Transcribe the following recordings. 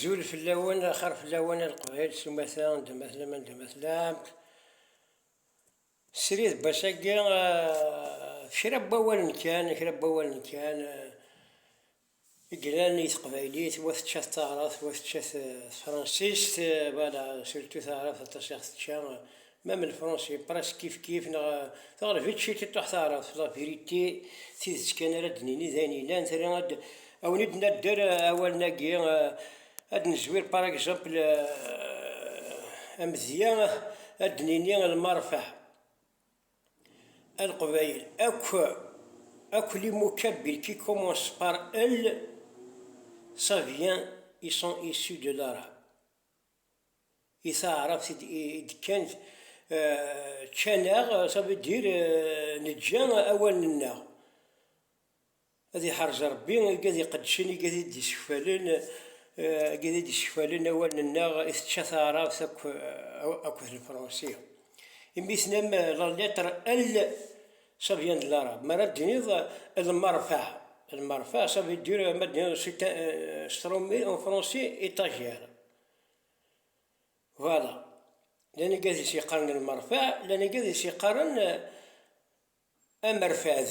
Azul fell-awen, axir fell-awen a Leqbayel s umata, anda ma tellam, anda ma tellam. Srid n wass-agi, ɣef kra n wawalen kan, kra n wawalen kan i yellan i teqbaylit, wa tečča-t taɛrabt, wa tečča-t tefransist, surtout taɛrabt aṭas i ɣ-tečča. Même lefransi presque kifkif neɣ teɣleb-itt ciṭ i ṭṭuḥ taɛrabt, la vérité, tidet kan ara d-nini d ayen yellan, tili ad awen-id-nadder awalen-agi, ad d-nezwir par exemple amedya ad d-nini lmerfeɛ, aleqbayel akk, akk les mots kabyle qui commencent par el ça vient, ils sont issus de l'arabe. I taɛrabt i d-kkan ččan-aɣ, ça veut dire neǧǧa awalen-nneɣ. Ad iḥerz Rebbi igad iqeddcen, igad i d-isekfalen, igad i d-isekfalen awalen-nneɣ i tečča taɛrabt akk d lefransi. Imi tennam la lettre L. Ça vient de l'arabe. Mi ara d-tiniḍ lmerfeɛ, lmerfeɛ, ça veut dire, ma d-tiniḍ c'est un, euh, s tṛumi en français étagère. Voilà. Llan igad i s-yeqqaren lmerfeɛ, llan igad i s-yeqqaren euh, amerfad.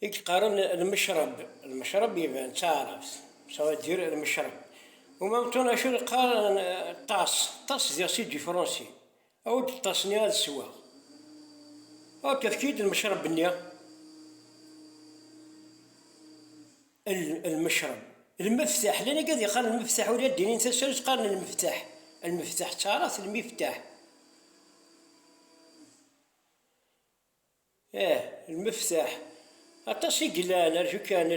I yeqqaren lmecreb, lmecreb iban d taɛrabt, ça veut dire lmecreb. U Mam Tun acu yeqqar ṭas, ṭas diɣ si du français, awi-d ṭas-nni ad sweɣ. Ok, efk-iyi-d lmecreb-nni. Lmecreb, lmeftaḥ, llan i gad yeqqaren lmeftaḥ ula ad d-inin tasarut qqaren lmeftaḥ, lmeftaḥ d taɛrabt lmiftah. Ih, lmeftaḥ. Aṭas i yellan, rju kan.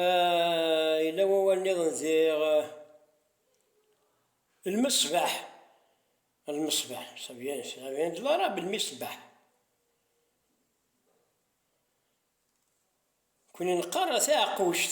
Ah, yella wawal nniḍen diɣ. Lmesbeḥ. Lmesbeḥ, ça vient, ça vient de l'arabe, lmisbeḥ. Nekkni neqqar taɛeqquct.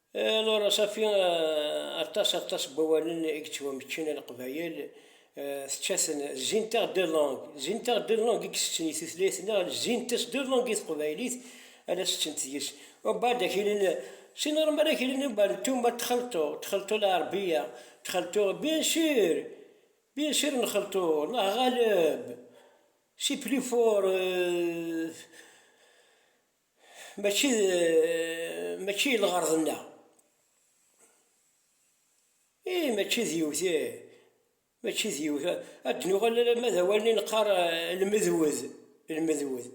Laura Safi, aṭas aṭas n wawalen i yettwameččen a Leqbayel, tečča-ten, zzint-aɣ deux langues, zzint-aɣ deux langues i isetten i tutlayt-nneɣ, zzint-as deux langues i teqbaylit a la settent deg-s. Ubeɛd a k-inin, si normal a k-inin ubeɛd n tumert txelṭu, txelṭu lɛerbiya, txelṭu, bien sur, bien sur nxelṭu, neɣ ɣaleb, c'est plus fort. Mačči d mačči i lɣerḍ-nneɣ. Ih, mačči d yiwet, ih, mačči d yiwet. Ad d-nuɣal alamma d awal-nni neqqar lmedwed, lmedwed.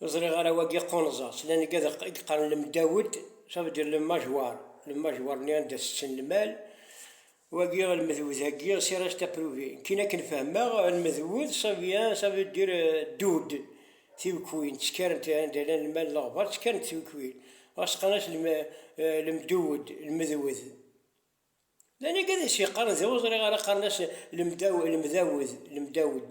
Ur ẓriɣ ara wagi qunẓeɣ-tt, llan i yeqqaren lemdawed, ça veut dire le mâchoire, le mâchoire-nni anda tetten lmal. Wagi lmedwed agi si reste à prouver, kin akken fehmeɣ lmedwed ça vient ça veut dire dud, tiwekkwin, ttkarent anda llan lmal leɣbar ttkarent tiwekkwin, ɣas qqaren-as lemdewed, lmedwed. D anagi ad as-yeqqaren da ur ẓriɣ ara qqaren-as lemdawed, lemdawed.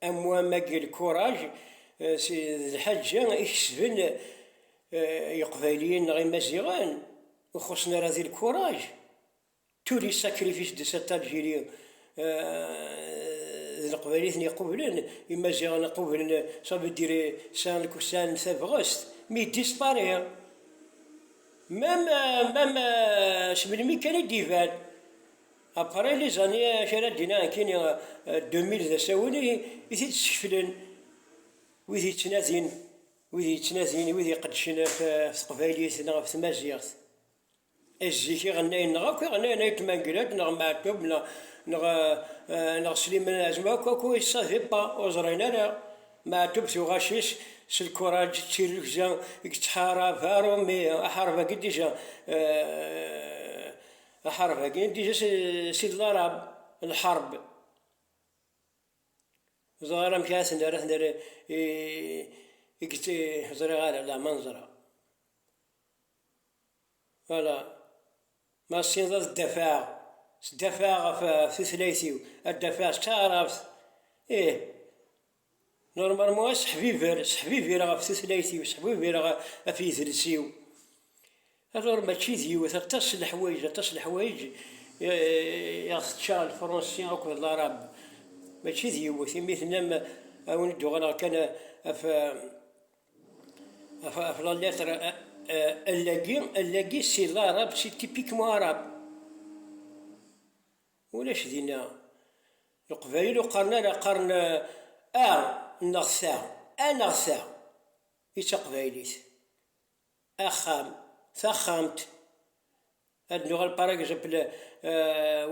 Am wa magi lkuraj d lḥaǧa i kesben Iqbayliyen neɣ Imaziɣen ur xuṣṣen ara di lkuraj, tous les sacrifices de cette Algérie d leqbaylit-nni iqublen, Imaziɣen qublen, ça veut dire sɛan tabɣest, mais il disparaît même, même seg melmi kan i d-iban. Apparay Lizani acu ara d-iniɣ nekkini deux mille d asawen i t-id-skeflen wid yettnadin wid yettnadin wid iqeddcen ɣef teqbaylit neɣ ɣef tmaziɣt et zik iɣennayen neɣ akk iɣennayen ay Tmangrad neɣ Meɛtub neɣ neɣ neɣ Sliman Azem akk akk ils savaient pas ur ẓrin ara Meɛtub tuɣac-is s lkuṛaǧ d tirrugza i yettḥarab aṛumi aḥareb-agi déjà Aḥareb-agi d-iǧa si d larab, lḥareb. Ur ẓriɣ ara amek ara ten-nerr, ad ten-nerr i get... Ur ẓriɣ ara, la ma neẓra. Voilà. Ma tessineḍ ad d-afeɣ, s d-afeɣ ɣef tutlayt-iw, ad d-afeɣ s taɛrabt, ih. Normalement aseḥbiber, seḥbibireɣ ɣef tutlayt-iw, seḥbibireɣ ɣef yidles-iw. Alors mačči d yiwet, aṭas n leḥwayeǧ, aṭas n leḥwayeǧ i ɣ-tečča lefransi akked larab. Mačči d yiwet, imi tennam ad wen-d-uɣaleɣ kan ɣef ɣef la lettre L-agi, L-agi c'est l'arabe, c'est typiquement arabe. Ulac dinna Leqbayel ur qqaren ara, qqaren a neɣ ta, a neɣ ta i taqbaylit, axxam, taxxamt, ad nuɣal par exemple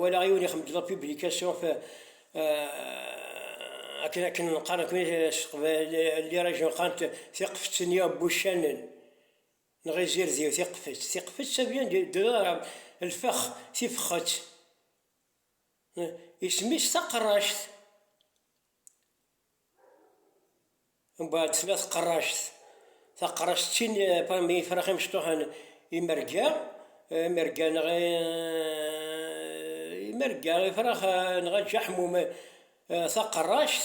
walaɣ yiwen ixemmem-d la publication f akken akken qqaren s teqbaylit, les regions qqaren tiqeftin, yaww, wuccanen. Neɣ izirdi-w tiqfett. Tiqfett ça vient de de lfex, tifexxett. Isem-is taqerract. Mbeɛd tella tqerract. Taqerract d tin parmi ifrax imecṭuḥen, imerga, imerga neɣ imerga, ifrax neɣ aǧaḥmum, taqerract.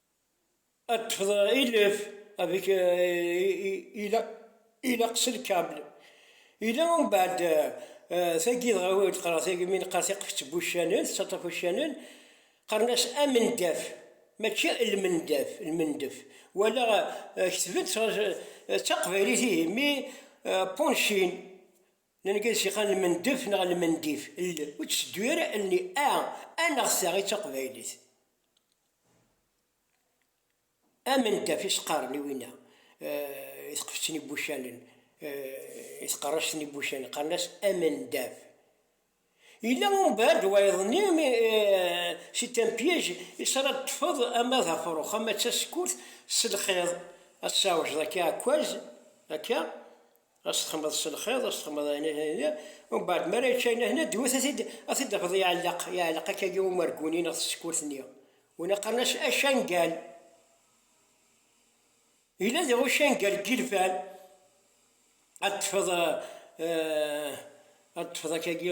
Ad tefḍ ilef avec ilaq c'est le câble yella umbeɛd tagi dɣa wi d-qqreɣ tagi mi neqqar tiqeft n wuccanen tettaṭṭaf uccanen qqaren-as amendaf mačči lmendaf lmendef walaɣ ketben d taqbaylit ihi mi punching langliz yeqqar lmendef neɣ lmendif ur tteddu ara allen-i a a neɣ ta i d taqbaylit. Amendeff i s-qqaren i winna i tqeftt n ibucalen, i tqerract n ibucalen, qqaren-as amendeff. Yella umbeɛd wayeḍ-nni mi c'est un piège i s ara d-ṭṭfeḍ ama d afrux ama d tasekkurt s lxiḍ, ad tsawjeḍ akka akwaz, akka, Ad s-texmeḍ s lxiḍ, ad s-texmeḍ ayen ayen ayen ayen, umbeɛd mi ara yečč ayen ayen, ad d-iwet ad t-id-tafeḍ iɛelleq, iɛelleq akkagi umergu-nni neɣ tsekkurt-nni. Wina qqaren-as acangal. Yella diɣ ucangal n yilfan, ad d-tefeḍ ad d-tefeḍ akkagi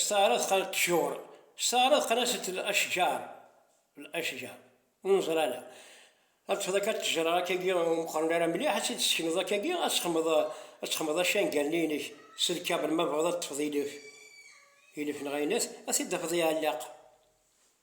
Steɛṛeḍ qal ṭjur. Steɛṛeḍ qal aset l-ashjar, l-ashjar, ur neẓri ara. Ad tfeḍ akka ṭṭejṛa akka-gi ur meqqṛen ara mliḥ, ad tt-id-tessekneḍ akka-gi, ad texmeḍ, ad texmeḍ acangal-nni-inek s lkabel ma tebɣiḍ ad teṭṭfeḍ ilef, ilef neɣ ayen-at, ad t-id-tafeḍ iɛelleq.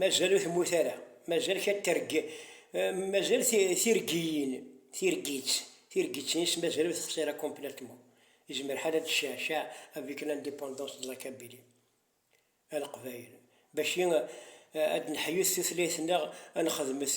Mazal ur temmut ara, mazal kan terg, mazal tirgiyin, tirgit, tirgit-nnes mazal ur texsi ara complètement. Yezmer ḥal ad d-tecceɛceɛ avec l'indépendance de la Kabylie, a Leqbayel, baci ad d-neḥyut tutlayt-nneɣ, ad nexdmet.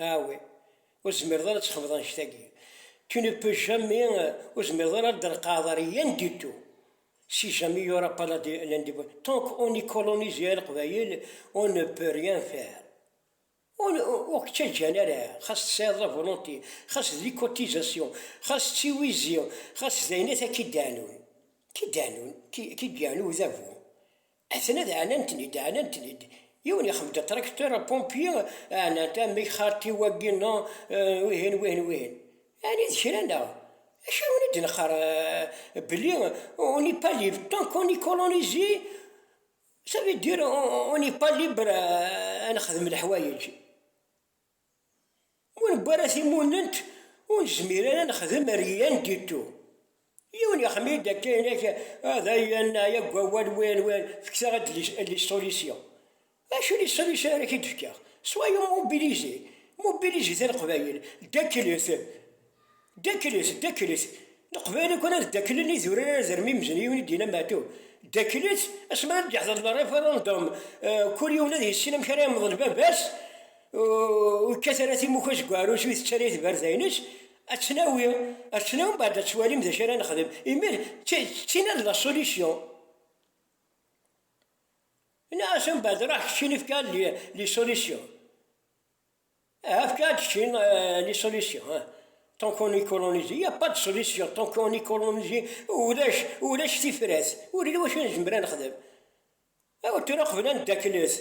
Awi, ur tezmireḍ ara ad txedmeḍ annect-agi. Tu ne peux jamais, ur tezmireḍ ara ad d-treqqɛeḍ rien du tout. Si jamais il y aura pas l'indépendance, tant qu'on est colonisé a Leqbayel, on ne peut rien faire. Ur k-ttaǧǧan ara, xas tesɛiḍ la volonté, xas d les cotisations, xas d tiwizi, xas d ayen akk i d-iɛennun, qui t'annun, qui gagne au Udabu. Aten ad ɛanantenid, ɛanantenid. Yiwen yexmed atracteur, un pompier, ɛanant, amek xarti wagi no, wihin, wihin, wihin. Ɛni d kra neɣ? Acu i wen-id-neqqar belli on n'est pas libre tant qu'on est colonisé, ça veut dire on n'est pas libre ad nexdem leḥwayeǧ. Ma ur newwi ara timunent, ur nezmir ara ad nexdem rien du tout. Yiwen yexmim-d akka inak, ah dayen neɛya deg wawal win win, fket-aɣ-d les solutions. Acu les solutions ara k-id-fkeɣ? Soyons mobilisés, mobilisez-iten Leqbayel, ddaklet. Ddaklet, ddaklet, Leqbayel akk ara ddaklen idurar ara d-rren imzen, yiwen i d-yenna Meɛtub, ddaklet, asmi ara d-yeḥḍer le référendum, kul yiwen ad yissin amek ara yemḍel baba-s, ur yekkat ara timuka seg uɛrus, ur itett ara itberdayen-is, ad tt-nawi, ad tt-nawi mbeɛd ad twalim d acu ara nexdem, imi d tina d la solution. Yenna-as mbeɛd ṛuḥ keččini efk-aɣ-d les solutions. Ahat kan ad d-ččin les solutions, tant qu'on est colonisé, il n'y a pas de solution, tant qu'on est colonisé ulac, ulac tifrat, ur yelli wacu nezmer ad nexdem, aw tura qbel ad neddaklet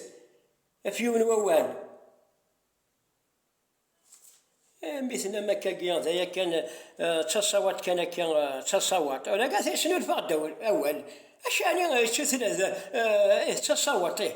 ɣef yiwen wawal, mi tennam akkagi d aya kan, d taṣawaḍt kan akka, d taṣawaḍt, ulaga t-yesnulfa-ɣ-d awal, acḥal i, d taṣawaḍt ih.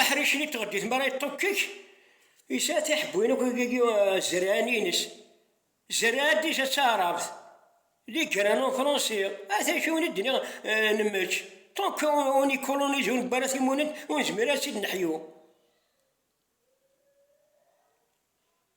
Aḥric-nni n tɣeddit mi ara yeṭṭukkek, yesɛa tiḥebbwin akk deg zzerɛan-ines. Zzerɛa dija d taɛrabt, les graines en français. At acu i d-nniɣ nemmečč, tant qu'on y colonise ur newwi ara timunent, ur nezmir ara ad tt-id-neḥyu.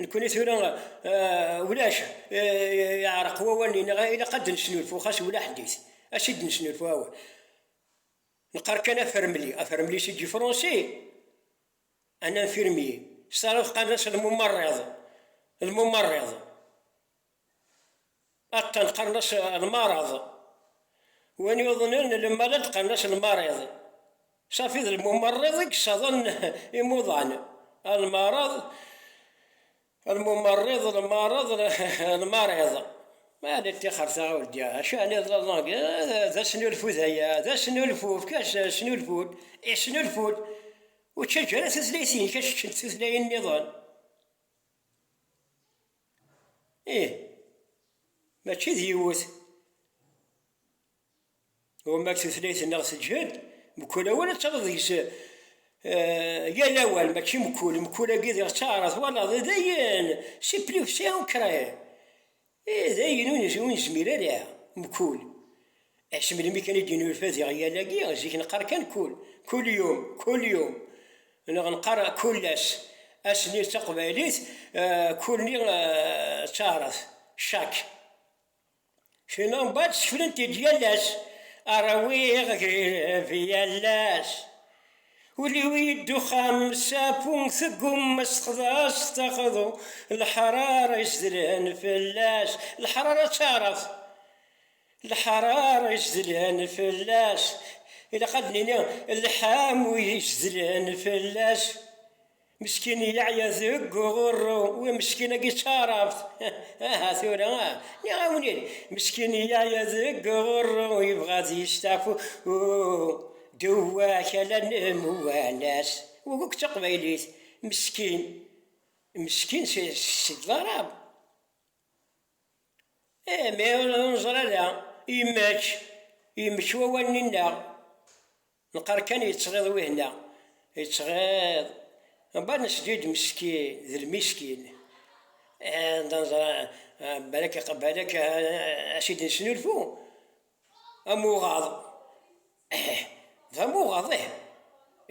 Nekkni tura ulac, yeɛreq wawal nni neɣ ilaq ad d-nesnulfu xas ula ḥdit, ad t-id-nesnulfu awal. Neqqar kan afermli, afermli si ǧifrunsi, un infirmier, s taɛrabt qqaren-as lmumarriḍ, lmumarriḍ. Attan qqaren-as lmareḍ. Win yuḍnen lmalad qqaren-as lmariḍ. Safi d lmumerriḍ i yessaḍen imuḍan. Lmareḍ, lmumerriḍ, lmareḍ, lmariḍ. Maɛna ṭixer taɣawla, acu ɛni d lalang? D asnulfu d aya, d asnulfu, efk-as asnulfu, isnulfu-d. Ur ttaǧǧa ara tutlayt-nnek ad tt-ččent tutlayin niḍen. Ih, mačči d yiwet. Ɣur-neɣ tutlayt-nneɣ teǧhed, mkul awal ad tafeḍ deg-s yal awal, mačči mkul, mkul-agi diɣ d taɛrabt, twalaḍ, d ayen, c'est plus que c'est ancré, ih, d ayen ur nezmir ara, mkul. Ass melmi kan i d-yennulfa diɣ yal-agi, zik neqqar kan kul, kul yum, kul yum, neɣ neqqar kul ass, ass-nni d taqbaylit, kul-nni d taɛrabt, chaque. Fina mbaɛd skeflen-t-id yal ass, Rwiɣ agreb yal ass, ul-iw yeddexxan sapu teggumma s-texḍa-s taxḍu, leḥrara izedlen fell-as, leḥrara d taɛrabt, Lḥaṛaṛ izedlen fell-as, ilaq ad nini lḥamu izedlen fell-as, meskin yeɛya deg uɣurru, wi meskin-agi d taɛrabt, aha tura nniɣ-awen-id, meskin yeɛya deg uɣurru, yebɣa ad yesteɛfu deww-ak ala nemwanas, wuɣur-k d taqbaylit, meskin, meskin s ddṛab. Ih, mi ur neẓri ara i yemma-k, yemma-k i wawal-nni-nneɣ, neqqar kan yettɣiḍ wihna, yettɣiḍ, dɣa nesli-d meskin, d lmiskin, balak ad t-id-nesnulfu, am uɣaḍ, ih, d am uɣaḍ ih,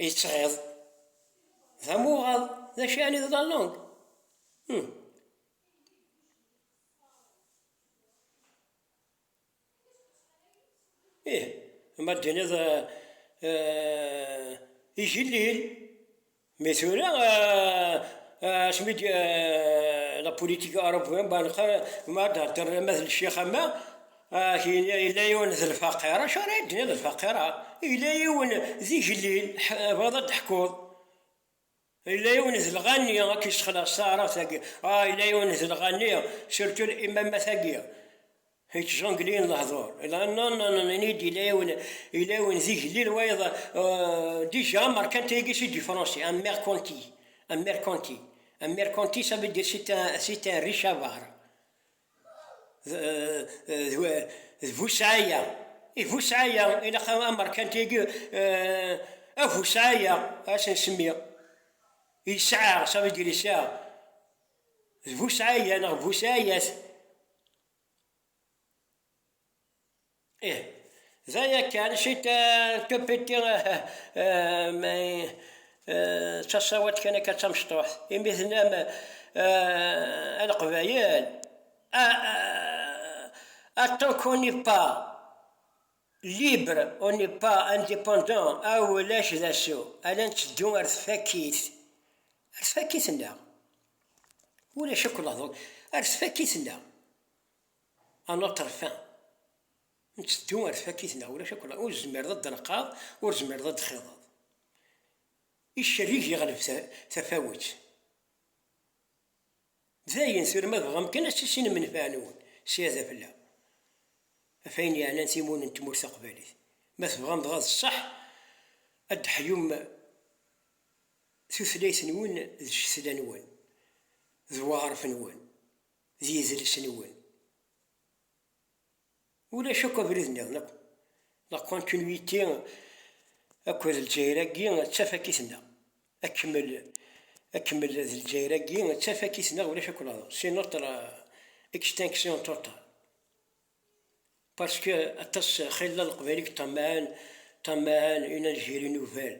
yettɣiḍ, d am uɣaḍ, d acu yeɛni d la langue? Ih, ma d-tiniḍ igellil, mi tura asmi la politique européenne ma d-theddṛeḍ ama d ccix ama yella yiwen d lfaqir, acu ara yi-d-tiniḍ d lfaqir? Yella yiwen d igellil, tebɣiḍ ad d-teḥkuḍ. Yella yiwen d lɣanni a k-yessexleṣ taɛrabt-agi, ah, yella yiwen d lɣanni, surtout imammat-agi, yettjongleyen lehdur, ah, non, non, non, ini-yi-d yella yiwen, yella yiwen d igellil wayeḍ, euh, déjà merkanti-agi c'est du français, un mercanti, un mercanti, un mercanti ça veut dire c'est un, c'est un riche avare. d bu sɛaya, i bu sɛaya ilaq amerkanti agi a bu sɛaya ad s-nsemmi yesɛa ça veut dire yesɛa d bu sɛaya neɣ bu sɛayat. Ih, d aya kan, c'est un tout petit mais d tasawalt kan akka d tamecṭuḥt, imi tennam a leqbayel tant qu'on n'est pas libre, on n'est pas independant ulac d asu, ala netteddu ar tfakit, ar tfakit-nneɣ, ulac akk lehdur, ar tfakit-nneɣ. A Laṭerfa, nteddu ar tfakit neɣ ulac akk la, ur tzemmireḍ ad d-telqaḍ, ur tzemmireḍ ad d-txiḍeḍ. Icerrig yeɣleb tafawet. Dayen tura ma tebɣam kan ad tissinem nnfeɛ-nwen ssyada fell-aɣ, ɣef ayen yeɛnan timun n tmurt taqbaylit, ma tebɣam dɣa d ṣṣeḥ ad d-teḥyum tutlayt-nwen d ccetla-nwen d weɣref-nwen. D yidles-nwen. Ulac akk abrid nniḍen akk. La continuité akked Lezzayer-agi d tafakit-nneɣ. Akemmel akemmel d Lezzayer-agi d tafakit-nneɣ ulac akk laẓ. C'est notre extinction totale. Parce que aṭas xilla Leqbayel i yeṭṭammaɛen ṭṭammaɛen une Algérie nouvelle.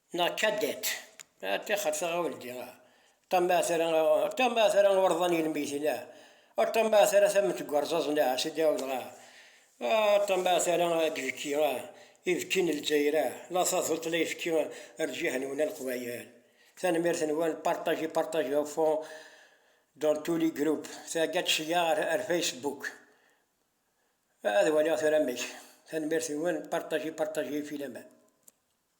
Neɣ Cadet, ṭixer taɣawldi, ṭam ahat ara, ṭam ahat ara urḍan yelmiten, ṭam ahat ara tament n urẓaẓen a sidi awḍeɣ, ṭam ahat ara d-bekki ibekki n Lezzayer, la taduṭ la ifekki rǧiha-nwen a Leqbayel. Tanemmirt-nwen, partagez, partagez au fond dans tous les groupes, thegga-d seg-a ar Facebook. Ad waliɣ tura amek. Tanemmirt-nwen, partagez, partagez i filaman.